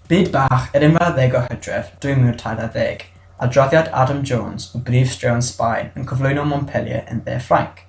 Byd bach yr unfed ar ddeg o Hydref 2014, adroddiad Adam Jones o brif straeon Sbaen yn cyflwyno Montpellier yn dde Ffrainc.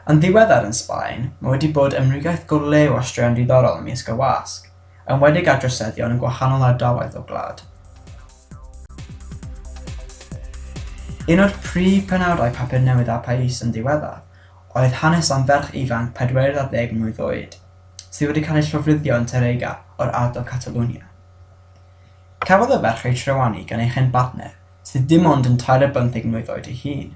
Yn ddiweddar yn Sbaen, mae wedi bod ymrigaeth go lew ar straeon diddorol ymysg y wasg, enwedig ar droseddion yn gwahanol ardaloedd o'r gwlad. Un o'r prif benawdau Papur Newydd a Pais yn ddiweddar oedd hanes am ferch ifanc 40 mlwydd oed, sydd wedi cael ei llofruddio yn Tàrrega o'r ardal Catalunya. Cafodd y ferch ei trywanu gan ei chyn-bartner, sydd dim ond yn tair ar bymtheg mlwydd oed ei hun.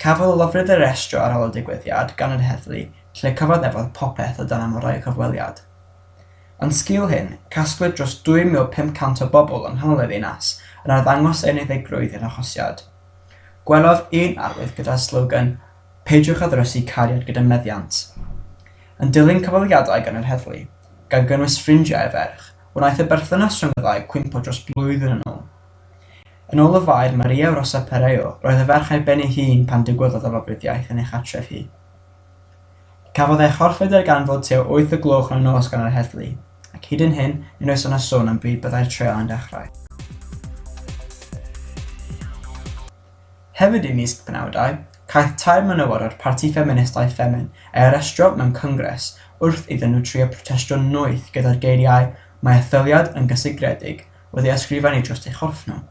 Cafodd y lofrudd ei restro ar ôl y digwyddiad gan yr heddlu, lle cyfaddefodd popeth o dan amodau cyfweliad. Yn sgil hyn, casglwyd dros 2,500 o bobl yng nghanol y ddinas yn arddangos eu unfeiddrwydd i'r arhosiad. Gwelodd un arwydd gyda'r slogan 'Peidiwch â Ddrysu Cariad Gyda Meddiant'. Yn dilyn cyfweliadau gan yr heddlu, gan gynnwys ffrindiau y ferch, wnaeth y berthynas rhwng y ddau gwympo dros blwyddyn yn ôl. Yn ôl y Faer Maria Rosa Perello, roedd y ferch ar ben ei hun pan digwyddodd y lofruddiaeth yn ei chartref hi. Cafodd ei chorchfyd ar ganfod tua wyth y gloch yn y nos gan yr heddlu, ac hyd yn hyn nid oes yna sôn am bryd byddai'r treial yn dechrau. Hefyd ym mis y penawdau, caiff tair menywod o'r parti ffeministaidd Ffemin ei arestio mewn cyngres wrth iddyn nhw trio protestio'n noeth gyda'r geiriau 'Mae etholiad yn gysegredig wedi ysgrifennu dros ei chorff nhw.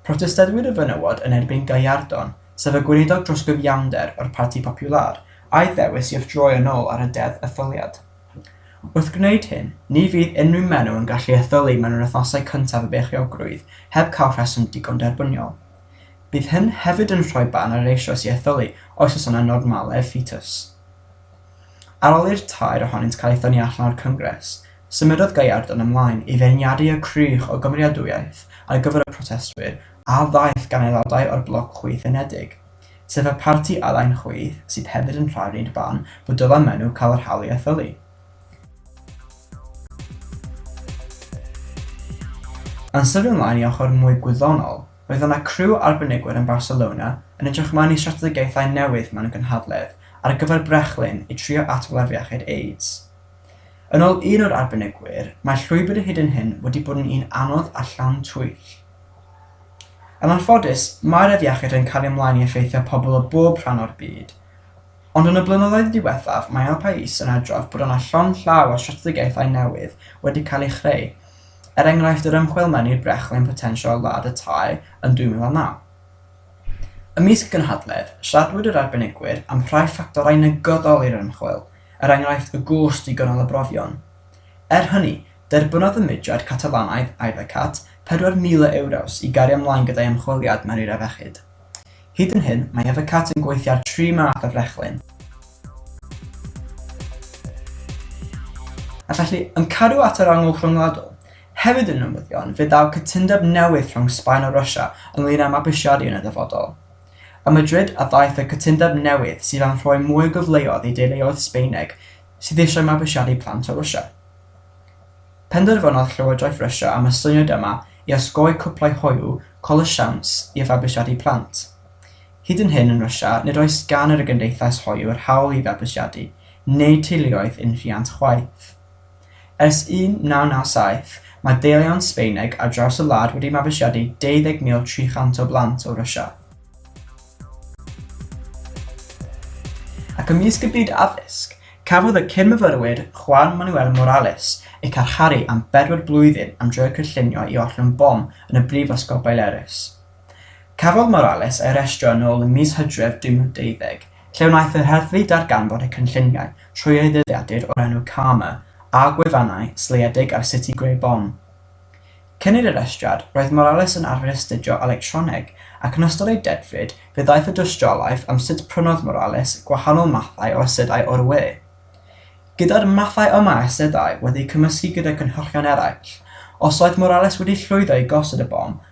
Protestadwyr y fenywod yn erbyn Gallardón, sef y gweinidog dros gyfiawnder o'r Parti Popular, a'i ddewis i withdroi yn ôl ar y Deddf Etholiad. Wrth gwneud hyn, ni fydd unrhyw menyw yn gallu etholi mewn yr wythnosau cyntaf y beichiogrwydd heb cael rheswm digon derbyniol. Bydd hyn hefyd yn rhoi barn ar yr eisoes i etholi oes oes yna normaledd fetus. Ar ôl i'r tair ohonynt cael eu thynnu allan o'r Cyngres, Symudodd Gaillarde yn ymlaen i feirniadu y crych o gymeriadwyaeth ar gyfer y protestwyr a ddaeth gan aelodau o'r Bloc Chwith Unedig, sef y parti alain chwith sydd hefyd yn rhai'r un barn bod dyla Menw cael yr hawl i etholi. Yn sydyn ymlaen i ochr mwy gwyddonol, roedd yna criw arbenigwyr yn Barcelona yn edrych ymlaen i strategaethau newydd mewn gynhadledd ar gyfer brechlyn i trio atgofa'r iechyd AIDS. Yn ôl un o'r arbenigwyr, mae'r llwybr o hyd yn hyn wedi bod yn un anodd a llawn twyll. Yn anffodus, mae'r afiechyd yn cario mlaen i effeithio pobl o bob rhan o'r byd. Ond yn y blynyddoedd diwethaf, mae El País yn adrodd bod yna llond llaw o strategaethau newydd wedi cael eu chreu, er enghraifft yr ymchwil mewn i'r brechlyn potensial ladd y tai yn 2009. Ymysg gynhadledd, siaradwyd yr arbenigwyr am rhai ffactorau negyddol i'r ymchwil, er enghraifft y gost i gynnal y brofion. Er hynny, derbynodd y mudiad Catalanaidd Ayvacat €4,000 i gario ymlaen gyda'i ymchwiliad mewn eira fechyd. Hyd yn hyn, mae Ayvacat yn gweithio ar tri math o frechlyn, a felly yn cadw at yr angl rhyngwladol. Hefyd yn newyddion, fe ddaw cytundeb newydd rhwng Sbaen a Rwsia ynglŷn â mabwysiadu yn y dyfodol. A Madrid a ddaeth y cytundeb newydd sydd am rhoi mwy o gyfleoedd i deuluoedd Sbaeneg sydd eisiau mabwysiadu plant o Rwsia. Penderfynodd Llywodraeth Rwsia am y syniad yma i osgoi cwplau hoyw col y siawns i fabwysiadu plant. Hyd yn hyn yn Rwsia nid oes gan yr y gymdeithas hoyw yr hawl i fabwysiadu, neu teuluoedd unrhiant chwaith. Ers 1997, mae deillion Sbaeneg ar draws y wlad wedi mabwysiadu 20,300 o blant o Rwsia. Ac ymysg y byd addysg, cafodd y cyn-myfyrwyr Juan Manuel Morales eu carcharu am bedwar blwyddyn am droi cynllunio i ollwng bom yn y Brifysgol Baleares. Cafodd Morales ei arestio yn ôl ym mis Hydref 2020, lle wnaeth yr heddlu ddarganfod y cynlluniau trwy ei ddyddiadur o'r enw Karma a gwefannau seiliedig ar sut i greu bom. Cyn ei arestiad, roedd Morales yn arfer astudio electroneg, ac yn ystod ei dedfryd fe ddaeth y dystiolaeth am sut prynodd Morales gwahanol mathau o asedau o'r we. Gyda'r mathau yma o asedau wedi eu cymysgu gyda cynhyrchion eraill, os oedd Morales wedi llwyddo i gosod y bom,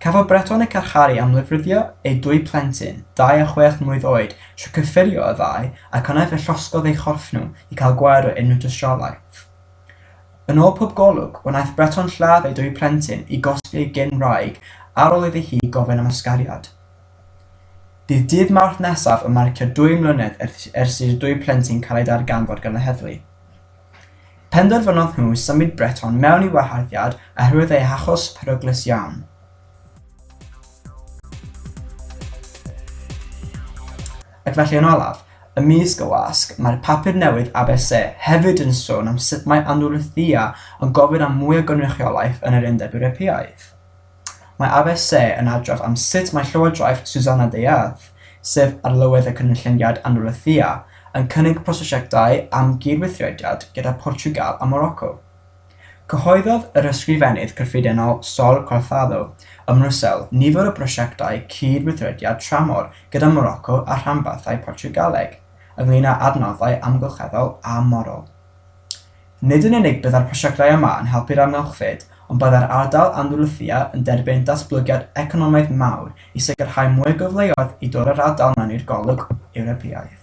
Cafodd Breton eu carcharu am lofruddio eu dwy plentyn, dau a chwech mlwydd oed, trwy cyffurio y ddau ac yna fe llosgodd eu chorff nhw i cael gwared o unrhyw dystiolaeth. Yn ôl pob golwg, wnaeth Breton lladd ei dwy plentyn i gosbi ei gyn-wraig ar ôl iddi hi gofyn am ysgariad. Bydd dydd Mawrth nesaf yn marcio dwy mlynedd ers i'r dwy plentyn cael eu darganfod gan y heddlu. Penderfynodd nhw symud Breton mewn i waharddiad oherwydd eu hachos peryglus iawn. Ac felly yn olaf, ymysg y wasg, mae'r papur newydd ABC hefyd yn sôn am sut mae Andalusia yn gofyn am mwy o gynrychiolaeth yn yr Undeb Ewropeaidd. Mae ABC yn adrodd am sut mae llywodraeth Susanna de Ath, sef Arlywydd y Cynulleidfiad Andalusia, yn cynnig prosiectau am gyd-weithrediad gyda Portiwgal a Moroco. Cyhoeddodd yr Ysgrifennydd Cyffredinol Sol Corthado ym Mrwsel nifer o brosiectau cyd-weithrediad tramor gyda Moroco a rhanbarthau Portiwgaleg, ynglŷn â adnoddau amgylcheddol a morol. Nid yn unig byddai'r prosiectau yma yn helpu'r amgylchfyd ond byddai'r ardal Andalusia yn derbyn datblygiad economaidd mawr i sicrhau mwy o gyfleoedd i dorri'r ardal mewn i'r golwg Ewropeaidd.